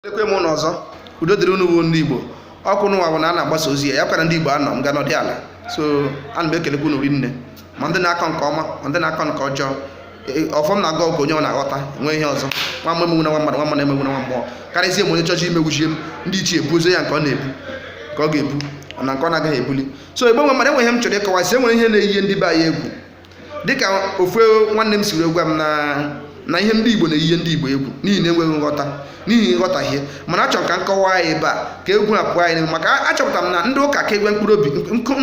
ekene m unu ọzọ udo dịrị unu bụ ndị igbo ọkụ n'ụwa bụ na a na-agbasa ozi ya ya kwara ndị igbo anọ m ga nọdị ala so ana m ekelekwa unu rinne ma ndị na-akọ nke ọma ma ndị na-akọ nke ọjọọ e, e, ọfọm na-agụ ọgụ onye ọ na-aghọta nwee ihe ọzọ nwa mmụọ emegbuna nwa mmadụ nwa mmadụ emegbuna nwa mmụọ karịzie m onye chọchị imegbuchie m ndị ichie ebu ozi ya nke ọ na-ebu nke ọ ga-ebu na nke ọ na-agaghị ebuli so egbe nwe mmadụ enwe ihe m chọrọ ịkọwa si enwere ihe na-eyi ndị be anyị egwu dịka ofu nwanne m siri gwa m na na ihe ndị Igbo na-eyihe ndị Igbo egwu n'ihi na enweghị nghọta n'ihi nghọtahie mana achọrọ m ka m kọwaa ya ebe a ka egwu na pụọ anyị n'ime maka achọpụtara m na ndị ụka ka egwe mkpụrụ obi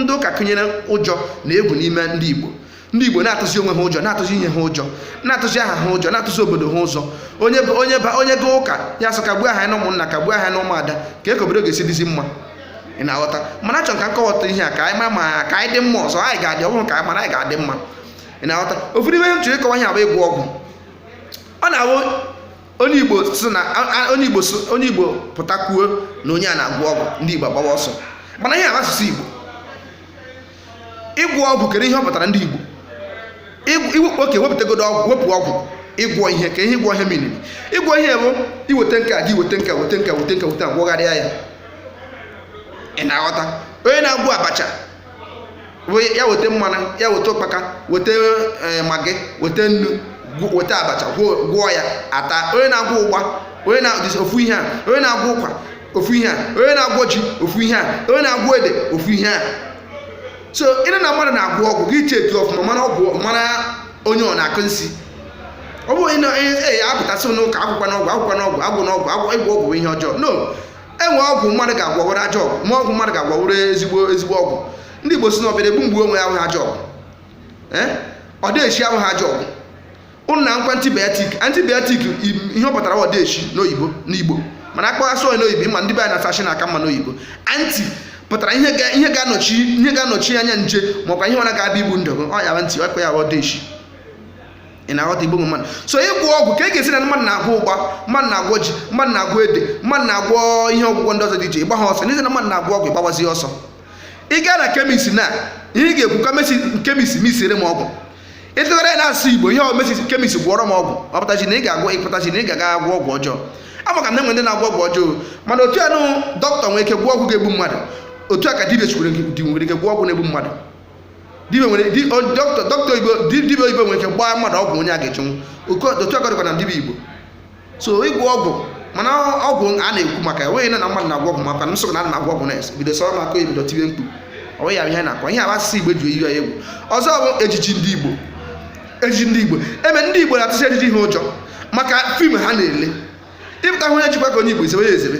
ndị ụka kụnyere ụjọ na egwu n'ime ndị Igbo ndị igbo na-atụzi onwe ha ụjọ na-atụzi ihe ha ụjọ na-atụzi aha ha ụjọ na-atụzi obodo ha ụjọ onye onye ba onye gaa ụka ya sị kagbuo aha ya na ụmụnna kagbuo aha ya na ụmụada kee ka obodo ga-esi dịzi mma ị na-aghọta mana achọrọ m ka m kọwata ihe a ka anyị mara ma ka anyị dị mma ọzọ anyị ga-adị ọ bụrụ ka anyị mara anyị ga-adị mma ị na-aghọta ofu n'ime ihe m chọrọ ịkọwa ihe a bụ ịgwọ ọgwụ ọ na-abụ onye igbo si na a- a- onye igbo si- onye igbo pụta kwuo na onye a na-agwọ ọgwụ ndị igbo agbawa ọsọ mana ihe a bụ asụsụ igbo ịgwọ ọgwụ kere ihe ọ pụtara ndị Igbo iwepụ okay wepụtagodo ọgwụ wepụ ọgwụ ịgwọ ihe kee ihe ịgwọ ihe meanịrị ịgwọ ihe bụ iweta nke a gị weta nke weta nke weta nke weta gwọgharịa ya ị na-aghọta onye na-agwọ abacha ya weta mmanụ ya weta ụkpaka weta eh, maggi weta nnu weta abacha gwọọ ya a taa onye na-agwọ ụgba onye na ofu ihe a onye na-agwọ ụkwa ofu ihe a onye na-agwọ ji ofu ihe a onye na-agwọ ede ofu ihe a so ị nụ na mmadụ na-agwọ ọgwụ gị cheki ọfụma mara ọgwụ mara onye ọ na-akọ nsi ọ bụghị ịnọ ee apụtasị n'ụka akwụkwọ n'ọgwụ akwụkwọ n'ọgwụ agwụ n'ọgwụ agwụ ịgwọ ọgwụ bụ ihe ọjọọ no enwe ọgwụ mmadụ ga-agwọ ọ wụrụ ajọ ọgwụ ma ọgwụ mmadụ ga-agwọ ọ wụrụ ezigbo ezigbo ọgwụ ndị Igbo si na ọbịara egbu m gbuo onwe ya awụha ajọ ọgwụ odeshi awụha ajọ ọgwụ unu makwa antibiotic antibiotic ihe ọ pụtara odeshi n'oyibo n'igbo mana akpọghasị onye n'oyibo ịma ndị be anyị na fashin aka mma n'oyibo anti pụtara ihe ga-anọchi ihe ga-anọchi anya nje makwa ihe ọ bụna ga-abịa igbu ndụ ọ ya e ji akpọ ya odeshi ị na-aghọta igbo mmadụ so ịgwọ ọgwụ ka e ga-esi na mmadụ na-agwọ ụgba mmadụ na-agwọ ji mmadụ na-agwọ ede mmadụ na-agwọ ihe ọgwụgwọ ndị ọzọ dị iche ị gbaha ọsọ n'ihi na mmadụ na-agwọ ọgwụ ị gbawazi ọsọ ị gaa na kemis na ihe ị ga-ekwu kemis kemis mixiere m ọgwụ ị tụgharịa ya n'asụsụ igbo ihe omesi kemist gwọọrọ m ọgwụ ọ pụtachi na ị ga-agwọ ọ pụtachi na ị ga-aga agwọ ọgwụ ọjọọ amakwa m na enwe ndị na-agwọ ọgwụ ọjọọ mana otu anụ dọkịta nwere ike gwọ ọgwụ ga-egbu mmadụ otu a ka dibia chikwere di nwere ike gwọ ọgwụ na-egbu mmadụ dibia nwere dọkịta oyibo nwere ike gbaa mmadụ ọgwụ onye a ga-echenwu otu a ka ọ dịkwa na dibia igbo so ịgwọ ọgwụ mana ọgwụ a na-ekwu maka ya ọ wụghị na na mmadụ na-agwọ ọgwụ maka na nsogbu na na-agwọ ọgwụ na bido sọrọ maka ebido tibe mkpu ọ wụghị ya ihe na-akọ ihe abasịsị igbo ji eyi ya egwu ọzọ bụ ejiji ndị igbo ejiji ndị igbo eme ndị igbo na-atụzi ejiji ha ụjọ maka fim ha na-ele ị pụta hụ onye jikwa ka onye igbo i zebe ya ezebe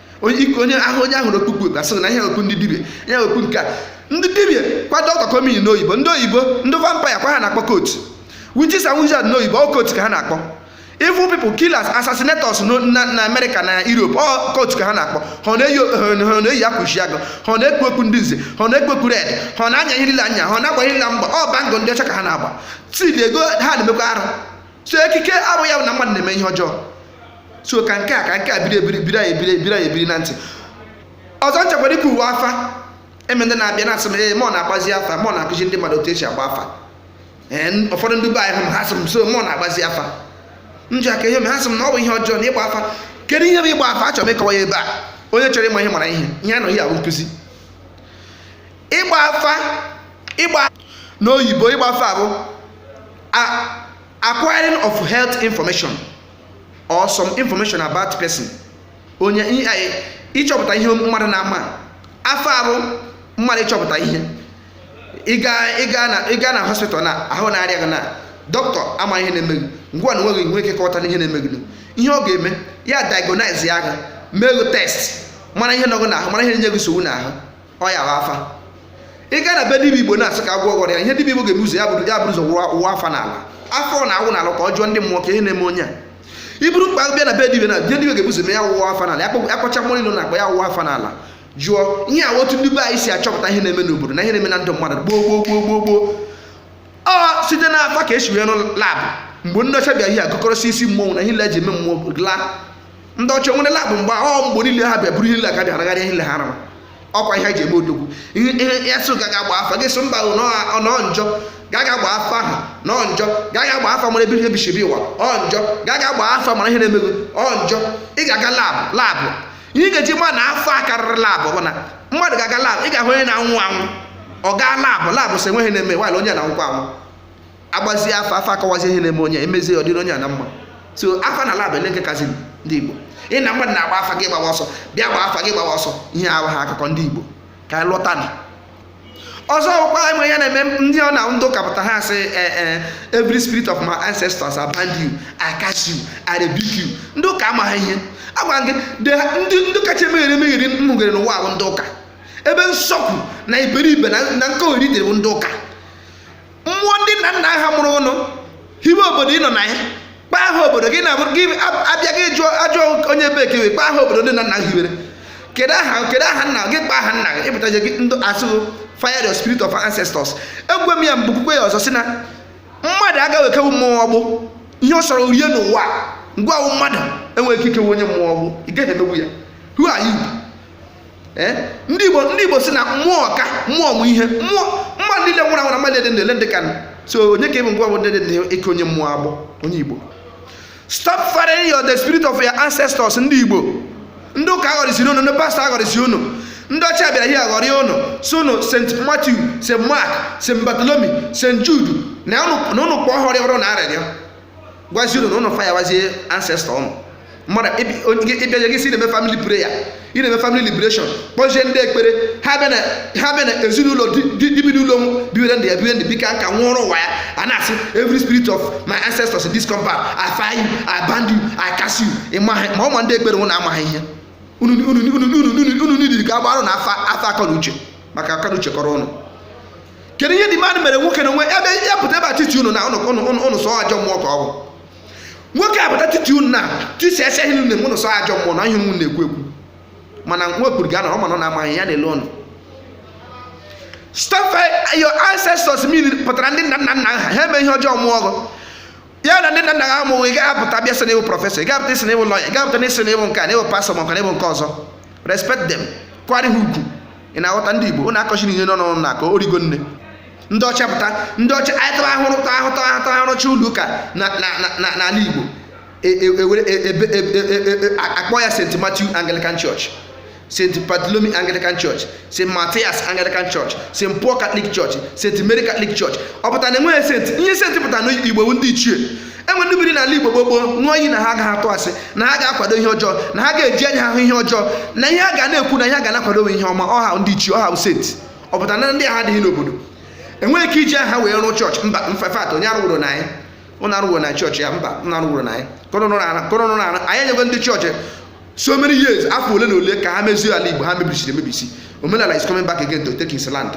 onye ahụ onye a hụrụ o kpu okpu a sịrị na ihe okpu ndị dibia ihe okpu nke a ndị dibia kwa dọkịta ka ọ mean n'oyibo ndị oyibo ndị vampire kwa ha na-akpọ coat witches and wizards n'oyibo ọ coat ka ha na-akpọ evil people killers assassinators na america na europe ọ coat ka ha na-akpọ ha na-eyi akwa isiagụ ha na-ekpu okpu ndị nze ha na-ekpu okpu red ha na-anya ihe niile anya ha na-agba ihe niile mgba ọ bangle ndị ọcha ka ha na-agba tidi ego ha na-emekwa arụ so ekike abụghị ya bụ na mmadụ na-eme ihe ọjọọ so ka nke a ka nke a biri ebiri biri anyị ebiri ebiri anyị ebiri na ntị ọzọ m chọkwara ikwu wụ afa eme ndị na-abịa na-asị m ee mọ na-agbazi afa mọ na-akụzi ndị mmadụ otu esi agba afa ee n- ụfọdụ ndị be anyị hụ m ha sị m so mọ na-agbazi afa m ji aka ihe m ha sị m na ọ bụ ihe ọjọọ na ịgba afa kedu ihe bụ ịgba afa achọrọ m ịkọwa ya ebe a onye chọrọ ịma ihe mara ihe ihe a nọ here bụ nkụzi ịgba afa ịgba n'oyibo ịgba afa bụ a- acquiring of health information or some information about person onye ịchọpụta ihe mmadụ na-amaghị afa bụ mmadụ ịchọpụta ihe ị gaa na hospital na ahụ na-arịa gị na dọkịta amaghị ihe na-eme gị gịnwa enweghị ike kọwata ihe na-eme gị ihe ọ ga-eme ya diagnose ya gị mee gị test mara ihe nọ gị n'ahụ mara ihe na-enye gị nsogbu n'ahụ ọ ya bụ afa ị gaa na be dibia igbo na-asị ka a gwọọ gị ọrịa ihe dibia igbo ga-eme ụzọ ya buru ya buru ụzọ wụwa wụwa afa n'ala afa ọ na-awụ n'ala ka ọ jụọ ndị mmụọ ka ihe na-eme onye a iburu mkpa bịa na be dibia na bịa dibia ga-ebu ụzọ mee ya wụwa afa n'ala akpọ- akpọcha mmụọ niile na-akpọ ya wụwa afa n'ala jụọ ihe a otu ndị be anyị si achọpụta ihe na-eme n'obodo na ihe na-eme na ndụ mmadụ gboo gboo gboo gboo gboo ọ site n'afa ka esi wee rụọ labụ mgbe ndị ọcha bịa ihe agụkọrọsị isi mmọnwụ na ihe nile eji eme mmụọ laa ndị ọcha nwere labụ mgbe ọ mgbe niile ha bịa buru ihe niile akadị aragharị ihe niile ha rara ọkwa ihe ji eme odogwu ihe ya so ga ga gba afa gị sị mba na ọ njọ ga ga gba afa ahụ na ọ njọ ga ga gba afa mara ebe i si bịa ụwa ọ njọ ga ga gba afa mara ihe na-eme gị ọ njọ ị ga-aga labụ labụ ihe ị ga-eji ma na afa karịrị labụ bụ na mmadụ ga-aga labụ ị ga-ahụ onye na-anwụ anwụ ọ gaa labụ labụ sị o nweghị ihe na-eme nwaanyị onye na-anwụkwa anwụ agbazie afa afa akọwazi ihe na-eme onye emezie ọ dịrị onye a na mma so afa na lab olee nke kazi ndị Igbo ị na mmadụ na-agba afa gị gbawa ọsọ bịa gba afa gị gbawa ọsọ ihe ahụ ha akụkọ ndị Igbo ka anyị lọta na ọzọ ọkwa enwe ya na-eme ndị ọ na ndị ụka pụta ha sị eh, eh, every spirit of my ancestors I bind you I cast you I rebuke you ndị ụka amaghị ihe agwa gị ndị ndị kacha emegheri emegheri mmegheri n'ụwa bụ ndị ụka ebe nzuzu na iberibe na nkogheri dịrị bụ ndị ụka mmụọ ndị nna nna ha mụrụ ụnụ hiwe obodo ị nọ na ya kpaa aha obodo gị na-abụ gị abịa gị jụọ ajụọ onye ebee ị kpaa aha obodo ndị nna nna hiwere kedu aha kedu aha nna gị kpaa aha nna gị ị pụtaje gị ndụ asụghị fire your spirit of ancestors ekwuo m ya m ga-ekwukwa ya ọzọ sị na mmadụ agaghị ekewu mmụọ agbụ ihe ọ sọrọ rie n'ụwa ngwa mmadụ enweghị ike ikewu onye mmụọ agbụ ị gaghị emewu ya who are you ee eh? ndị igbo ndị igbo sị na mmụọ ka mmụọ mụ ihe mmụọ mmadụ niile nwụrụ anwụ na mmadụ dị ndụ ndị ka so onye ka ị bụ ngwa bụ ndị dị eke onye mmụọ agbụ onye igbo stop firing your the spirit of your ancestors ndị igbo ndị ụka aghọrịsiri unu ndị pastọ aghọrịsi unu ndị ọcha bịara ihe aghọrị unu sị unu st matthew st mark st bartholomew st jude na unu kpọọ ha rịọrọ unu arịrịọ gwazie unu na ụnụ fayawazie ancestor ụnụ mmadụ ị bịaje gị sị na-eme family prayer ị na-eme family liberation kpọzie ndị ekpere ha bịa na ezinụlọ ndị bi n'ụlọ biwere ndị ya biwe ndị bika nka nwụrụ ụwa ya a na-asị every spirit of my ancestors in this compound I fire you I bind you I cast you ma ụmụ ndị ekpere ụnụ amaghị ihe unu nidiri ka a gbara ụnụ afa akọnuche maka akọnuche kọrọ ụnụ kedu ihe demand mere nwoke na onwe ebe ya pụta ebe etiti unu na ụnụ sị ajọ mmụọ ka ọ bụ nwoke a pụta etiti unu na tisi ese ihe nne ụnụ sị ajọ mmụọ na ihe unu na-ekwu ekwu mana nwa okpuru ga anọrọ mana ọ na-amaghị ya na-ele ọnụ stop your ancestors mean pụtara ndị nna nna nna ha ha eme ihe ọjọọ mụọ ọgụ ya na ndị nna nna ha amụghị ị ga-apụta bịa sị na ị bụ prọfesọ ị ga-apụta sị na ị bụ lọya ị ga-apụta na-asị na ị bụ nke a na ị bụ pastọ ma nke na ị bụ nke ọzọ respect them kwanyere ha ugwu ị na-aghọta ndị Igbo ụnụ akọchiri ihe nọ n'ọnụ na-akọ origo nne ndị ọcha pụta ndị ọcha anyị tara ahụrụ ta ahụta ahụta a rụchaa ụlọ ụka n'ala Igbo a kpọọ ya St. Matthew Anglican Church St. Bartholomew Anglican Church St. Matthias Anglican Church St. Paul Catholic Church St. Mary Catholic Church ọ pụta na enweghị senti ihe senti pụta n'Igbo wụ ndị ichie e nwere ndị biri n'ala Igbo gboo gboo ṅụọ iyi na ha agaghị atụ asị na ha agaghị akwado ihe ọjọọ na ha agaghị eji anya ahụ ihe ọjọọ na ihe ha ga na-ekwu na ihe ha ga na-akwado ihe ọma ọ ha ndị ichie ọ ha wụ senti ọ pụta na ndị ahụ adịghị n'obodo enweghị ike iji aha wee rụọ chọọchị mba in fact onye arụworo na anyị ụnụ arụworo na chọọchị ya mba ụnụ arụworo na anyị kọrọnụrụ na ara anyị enyego ndị chọọchị so many years afọ ole na ole ka ha mezie ala Igbo ha mebisiri emebisi omenala is coming back again to take his land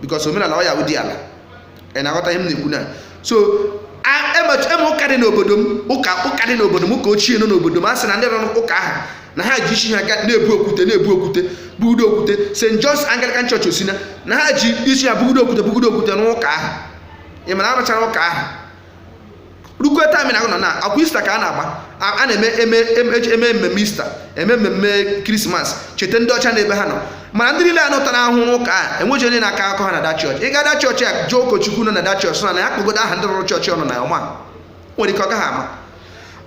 because omenala ọ ya wụ di ala ị na-aghọta ihe m na-ekwu na so eme e ụka dị n'obodo m ụka ụka dị n'obodo m ụka ochie nọ n'obodo m a sị na ndị rụrụ ụka ahụ na ha ji isi ha na-ebu okwute na-ebu okwute bugudo okwute St. John's Anglican Church Osina na ha ji isi ha bugudo okwute bugudo okwute n'ụka ahụ ị ma na a rụchara ụka ahụ rukwe taịm na nọ na akwa ista ka a na-agba a na-eme eme eme mmemme ista eme mmemme krismas cheta ndị ọcha n'ebe ha nọ mana ndị niile ahụ tara ahụhụ n'ụka a enweghị onye na-akọ akọ ha na da chọọchị ị gaa da chọọchị a jụọ ụkọchukwu nọ na da chọọchị na ya kpọgodo aha ndị rụrụ chọọchị ọ nọ na ọ ma nwere ike ọ gaghị ama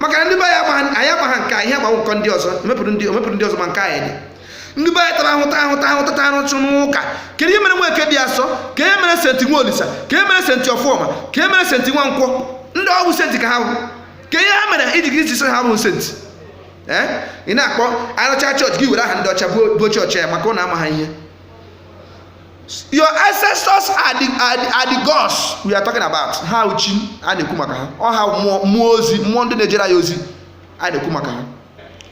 maka na ndị be anyị amaghị nke a ihe agbanwe nke ndị ọzọ emepụrụ ndị ọzọ ma nke anyị dị ndị be anyị tara ahụhụ ta ahụhụ ta ahụhụ ta ahụhụ n'ụka kedu ihe mere nweke dị asọ ka e mere senti nwaolisa ka e mere senti ọfọma ka e mere senti nwankwọ ndị ọ wụ senti ka ha bụ kee ihe ha mere iji gị ji sị ha bụ senti ee ị na-akpọ a rụcha chọọchị gị were aha ndị ọcha buo chọọchị ya maka ụnụ amaha ihe your ancestors are the, are the, are the gods we are talking about ha wụ chi a na-ekwu maka ha ọ ha mmụọ ozi mmụọ ndị na-ejere ya ozi a na-ekwu maka ha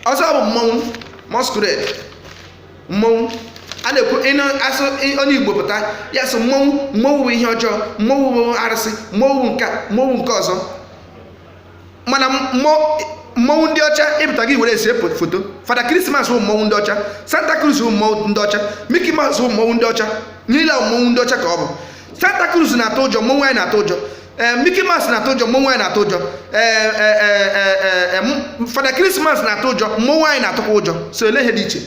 ọzọ bụ mmọnwụ masquerade mmọnwụ a na-ekwu ịnụ asụ ị- onye igbo pụta ya sị mmọnwụ mmọnwụ bụ ihe ọjọọ mmọnwụ bụ arụsị mmọnwụ bụ nke a, mmọnwụ nke ọzọ mana mmọ- mmọnwụ ndị ọcha ịpụta gị were ese po- foto fada krismas bụ mmọnwụ ndị ọcha santa claus bụ mmọnwụ ndị ọcha mickey mouse bụ mmọnwụ ndị ọcha niile a mmọnwụ ndị ọcha ka ọ bụ Santa Claus na-atụ ụjọ mmọnwụ anyị na-atụ ụjọ eh, Mickey Mouse na-atụ ụjọ mmọnwụ anyị na-atụ ụjọ eh, eh, Fada Christmas na-atụ ụjọ mmọnwụ anyị na-atụkwa ụjọ so ele ihe dị iche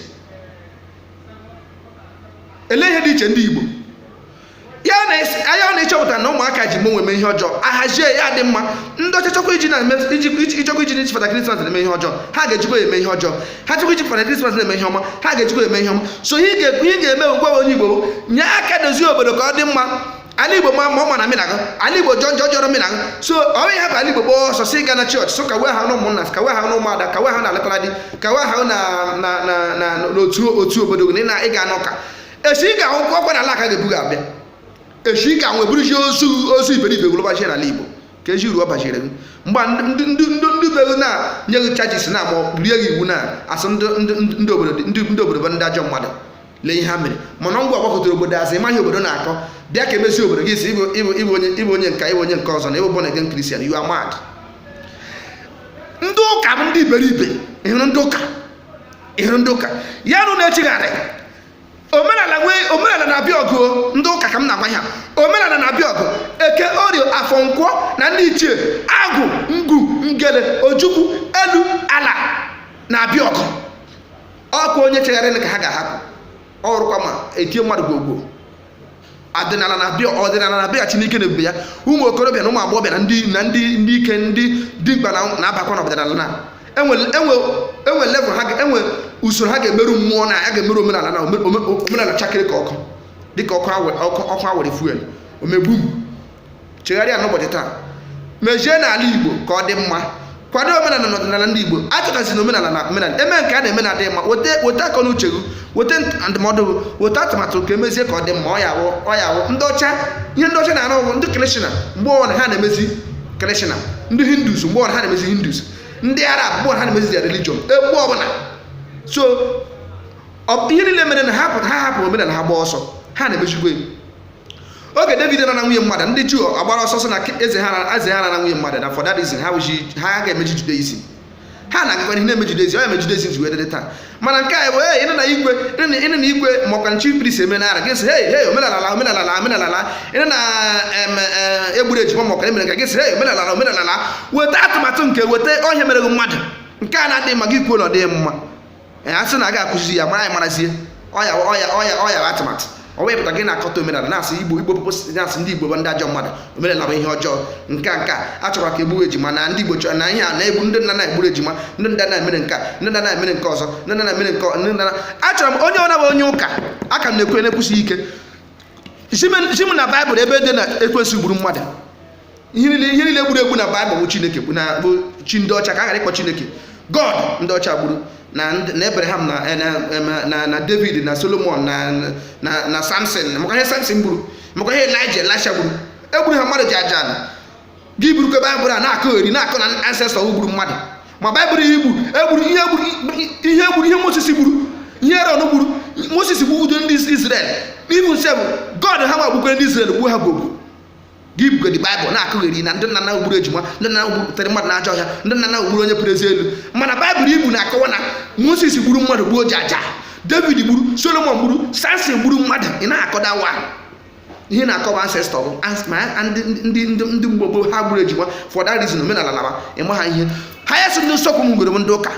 ele ihe dị iche ndị Igbo ya anya ọ na-echọpụta na ụmụaka ji mmọnwụ eme ihe ọjọọ a hazie ya dị mma ndị ọcha chọkwa iji na ijikwa iji n'iji fada krismas na-eme ihe ọjọọ ha ga-ejikwa eme ihe ọjọọ ha chọkwa iji fada krismas na-eme ihe ọma ha ga-ejikwa eme ihe ọma so ihe ị ga-eme ugbua onye igbo nye aka dozie obodo ka ọ dị mma ala igbo maa mma ọ maara mụ na gị ala igbo jọọ njọ ọ jọrọ mụ na gị so ọ bụ ịhapụ ala igbo gbaa ọsọ sị ị ga na chọọchị so ka wee ha n'ụmụnna ka wee ha n'ụmụada ka wee ha na alụtara di ka wee ha na na na na n'otu otu obodo gị na ị ga n'ụka esi ị ga-anwụ ọkwa n'ala a ka a ga-ebu gị abịa esi ị ga-anwụ e buruchi ozu ozu iberibe gị lọbachi n'ala igbo keezi uru ọ bachiri gị mgbe ndị ndị ndị ndị be gị na-nye gị chajis na ma ọ bụ rie gị iwu na-asị ndị ndị ndị obodo ndị ndị obodo bụ ndị ajọ mmadụ lee ihe ha mere mana ọ gịwa gbakụtara obodo azụ ị maghị obodo na-akọ bịa ka e mezie obodo gị sị ị bụ ị bụ ị bụ onye ị bụ onye nka ị bụ onye nke ọzọ na ị bụ born again Christian you are mad ndị ụka bụ ndị iberibe ị hụrụ ndị ụka ị hụrụ ndị ụka ya nụ na-echigharị omenala nwee omenala na-abịa ọgụ ndị ụka ka m na-agwa ha omenala na-abịa ọgụ eke orie afọ nkwọ na ndị ichie agwụ ngwu ngene ojukwu elu ala na-abịa ọgụ ọkwa onye chegharịrị ka ha ga-ahapụ ọ wụrụkwa ma e tie mmadụ gwogwo ọdịnala na-abịa ọdịnala na-abịa Chineke na ebube ya ụmụ okorobịa na ụmụ agbọghọbịa na ndị na ndị ndị ike ndị dimkpa na-abakwa na ọdịnala na enwe level ha enwe usoro ha ga-emeru mmụọ na ya ga-emeru omenala na omenala chakee dịka ọkụ dịka ọkụ a wụrụ fuel o mee gbum chegharịa n'ụbọchị taa mejie n'ala igbo ka ọ dị mma kwado omenala na ọdịnala ndị igbo achọtazi na omenala na omenala enwe nke a na-eme na-adịghị mma weta akọ na uche gị weta ndụmọdụ gị weta atụmatụ ka emezie ka ọ dị mma ọ ya awụ ọ ya awụ ndị ọcha ihe ndị ọcha na-arụ ọrụ ndị christian mgbe ọbụla ha na-emezi christian ndị hindus mgbe ọbụla ha na-emezi hindus ndị arab mgbe ọbụla ha na-emezi their religion mgbe ọbụla so ihe niile mere na ha hapụ omenala ha gba ọsọ ha na-emezigbo oge david nara nwunye mmadụ ndị juu agbara ọsọ sị na eze ha na eze ha nara nwunye mmadụ na for that reason ha wụji ha ga-emeji judaism ha na-agakwa ihu na-eme judaism ọ ya mere judaism ji wee dịrị taa mana nke a bụ hey ịnụ na igwe ịnụ na- ịnụ na igwe makwa chief priest eme na ara gị sị hey hey omenala la omenala la omenala la ịnụ na em, eh, egburu ejima makwa emere nke a gị sị hey omenala la omenala la weta atụmatụ nke gị weta ihe mere gị mmadụ nke a na-adịghị mma gị kwuo na ọ dịghị mma ee a sị na a ga-akụzi ya ma anyị marazie ọ ya ọ ya ọ ya ọ ya bụ atụmatụ ọ wee pụta gị na-akọtọ omenala na-asị igbo igbo pụpụ na-asị ndị igbo bụ ndị ajọ mmadụ omenala bụ ihe ọjọọ nke a nke a a chọkwara ka egbuwe ejima na ndị igbo chọrọ na ihe a na-egbu ndị nna nna gburu ejima ndị nna nna mere nke a ndị nna nna mere nke ọzọ ndị nna nna mere nke ọ- ndị nna na- achọrọ m onye ọna bụ onye ụka ka m na-ekwe na-ekwusi ike zi m- zi m na baịbụl ebe dị na ekwensụ gburu mmadụ ihe niile gburu egbu na baịbụl bụ chineke bụ na bụ chi ndị ọcha ka a ghara ịkpọ chineke god ndị ọcha gburu na abraham eh, na na david na solomon na samson maka ihe samson gburu maka ihe elijah elisha gburu egburu ha mmadụ jaja na gị burukwa baịbụl na-akọgheri na-akọ na ancestor gburu mmadụ ma baịbụl ihe gburu egburu ihe gburu ihe gburu ihe moses gburu ihe aaron gburu moses gbudo ndị israel even sef god ha ma gbukwe ndị israel gbuo ha gbogbo gị bugodi baịbụl na-akọgheri na ndị nna nna gburu ejima ndị nna gburu tụrụ mmadụ n'ajọ ọhịa ndị nna nna gburu onye puru eze elu mana baịbụl i bu na-akọwa na moses gburu mmadụ gbuo jaja david gburu solomon gburu samson gburu mmadụ ị na-akọda wa ihe na-akọwa ancestor bụ ndị ndị mgbe gboo ha gburu ejima for that reason omenala laba ịma ha ihe ha ya si ndị nsọkwu m gwere m ndị ụka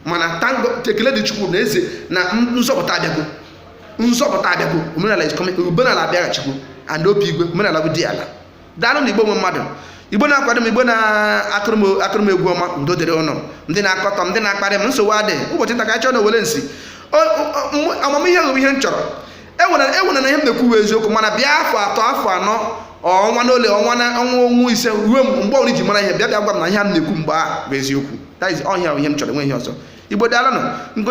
mana thank god ekele dịrị chukwu na eze na nzọpụta abịago nzọpụta abịago omenala is coming omenala abịaghachikwu and obi igwe omenala bụ diala daalụ nụ igbo nwe mmadụ igbo na-akwado m igbo na-akụrụ m egwu ọma udo dịrị ụnụ ndị na-akọtọ m ndị na-akparị m nsogbu adịghị ụbọchị nta ka anyị chụọ n'owere nchi amamihe wụ ihe m chọrọ ewerena ihe m na-ekwu wụ eziokwu mana bịa afọ atọ afọ anọ ọnwa na ole ọnwa na ọnwa ọnwa ise ruo mgbe ọbụla i ji mara ihe bịa bịa gwa m na ihe ị na-ekwu mgbe ahụ bụ eziokwu that is ọ ya bụ ihe m chọrọ enweghị ihe ọzọ igbo daalụ nụ nke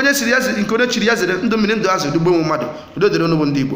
onye chiri ya zere ndụ mmiri ndụ azụ ndị igbo nwe mmadụ udo dịrị ụnụ bụ ndị igbo